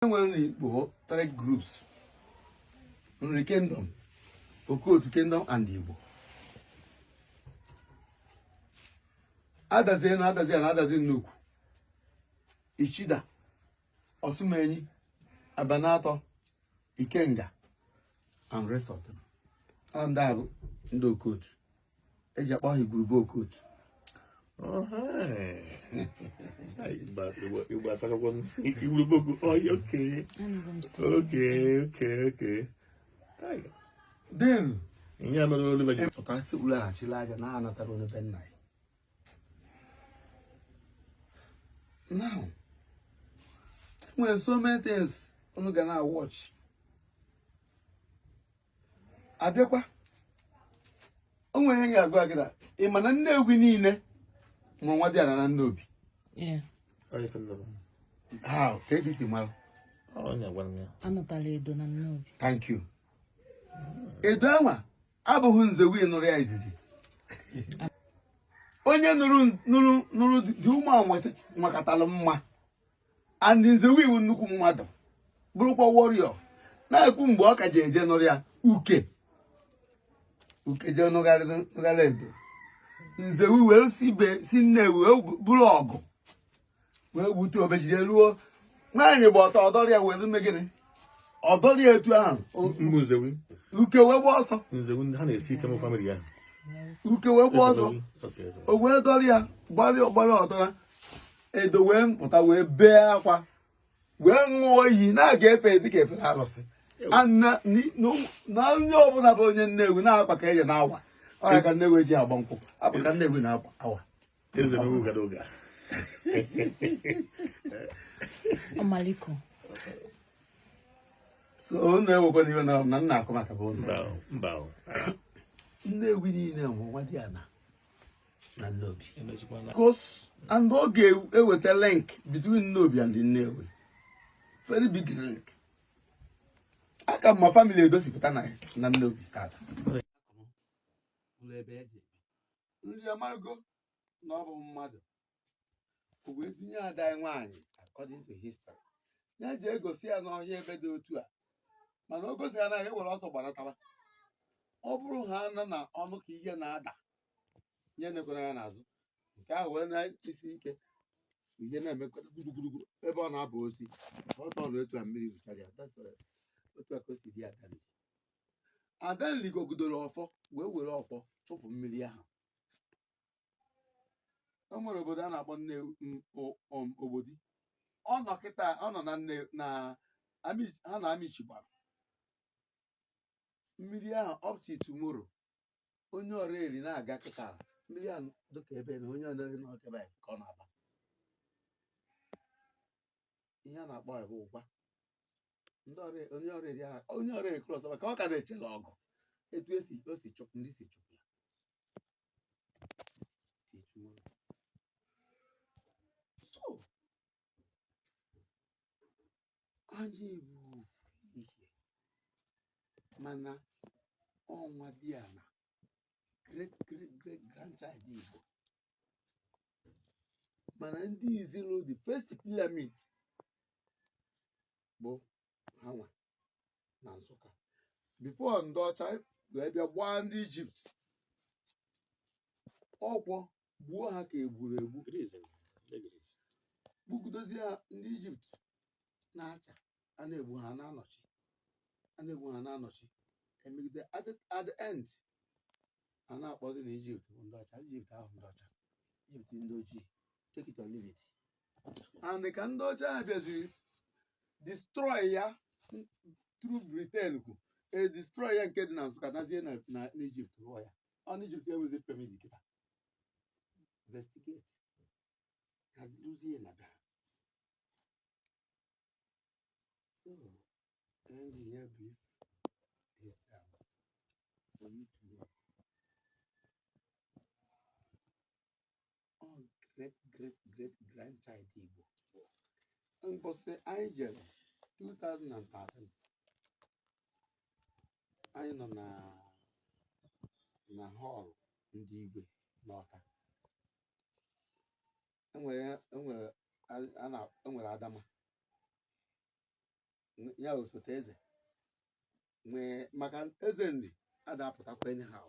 enwere na Igbo three groups Nri Kingdom Okotu Kingdom and Igbo adazi ana adazi enu adazi nnukwu ichida ọsụmenyi abanatọ ikenga and rest of them ndị a bụ ndị okotu eji akpọ ha igwurube okotu igwurube okotu okay then ihe mere olu pụta si ụlọ achịla aja na anatara onye be nna ya now e nwere so many things unu ga na-watch abịakwa o nwere ihe ga-agwa gị na ị ma na Nnewi niile bụ nwadiana na Nnobi Yeah. Onye ife nnọrọ. how ka eji si mara Ọ onye gwara m ya. Anụtala edo na nnobi. thank you edo anwa abụghị Nzewi nụrụ ya izizi onye nụrụ dị ụmụ anwa makatara mma and Nzewi wụ nnukwu mmadụ bụrụkwa warrior na-ekwu mgbe ọ ka ji eje nụrụ ya Uke jee nụgharị Edo Nzewi wee si Nnewi wee buru ọgụ wee gbute o wee jide ruo nwaanyị gba ọtọ ọ dọrọ ya wee mee gịnị ọ dọrọ ya etu ahụ Mgbe Nzewi uke wee gba ọsọ Nzewi ha na-esi ike mụ family ya uke wee gba ọsọ Okay, so- o wee dọrọ ya gbara ọdọra edo wee pụta wee bee akwa wee ṅụọ iyi na a ga-efe dịka e fere arụsị na onye ọbụla bụ onye Nnewi na akwa ka eje na-awa ọ ya ka Nnewi ji agba nkwụ akwa ka Nnewi na-akwa awa ọmaliko so unu ewekwana iwe na na nna akụ maka bụ unu Nnewi niile wụ nwadiana na Nnobi because and ọ ga-eweta link between Nnobi and Nnewi very big link a ka ma family Edo si pụta na Nnobi tata ndị amargo na ọ bụ mmadụ o wee tinye ada ya nwaanyị according to history ya ji egosi ya n'ọhịa ebe dị otu a mana o gosi ya na e were ọsọ gbanataba ọ bụrụ ha ana-anụ ka ihe na-ada ihe na-ekwere ya n'azụ nke ahụ wee na-esi ike ihe na-emekọta gburugburu ebe ọ na-abụ osi ọtọ na otu a mmiri zụchara ya that's all. otu a ka o si dị adanli adanli gogidoro ọfọ wee were ọfọ chụpụ mmiri ahụ o nwere obodo a na-akpọ nne m- o- om- ogbodi ọ nọ kịta ọ nọ na nne na Ami- ha na amichi gbara mmiri ahụ up till tomorrow onye Ọraeri na-aga kịta ndị ya dịka ebe na onye Ọraeri na ọkebe ka ọ na-aba ihe a na-akpọ ya bụ ụgwa ndị Ọrae- onye Ọraeri ya na- onye Ọraeri cross ka ọ ka na-echela ọgụ etu esi o si chụpụ ndị si chụpụ ya si chụpụ ya. so anyị bụ ofu ihe mana ọ nwadiana great great great grandchild Igbo mana ndị izizi rụ the first pyramid bụ hanwa na Nsụka before ndị ọcha wee bịa gbaa ndị Ijipt ọkwọ gbuo ha ka egburu egbu gbugidozie ha ndị ijipt na-acha a na-egbu ha na-anọchi a na-egbu ha na-anọchi emegide at the- at the end a na-akpọzi na ijipt bụ ndị ọcha ijipt ahụ ndị ọcha ijipt ndị ojii take it or leave it and ka ndị ọcha ahụ bịaziri destroy ya through britain kwu e destroy ya nke dị na nsụka nazie na na- n'ijipt rụọ ya ọ n'ijipt enwezi pyramid kịta investigate kaziluzie na be ha so enyi ya brief this time for you to know all great great great grandchild Igbo mbọsị anyị jere 2013 anyị nọ na na hall ndị igwe n'Ọka enwere enwere a- a na- enwere Adama N- ya osote eze nwee maka Eze Nri ada apụtakwa anyhow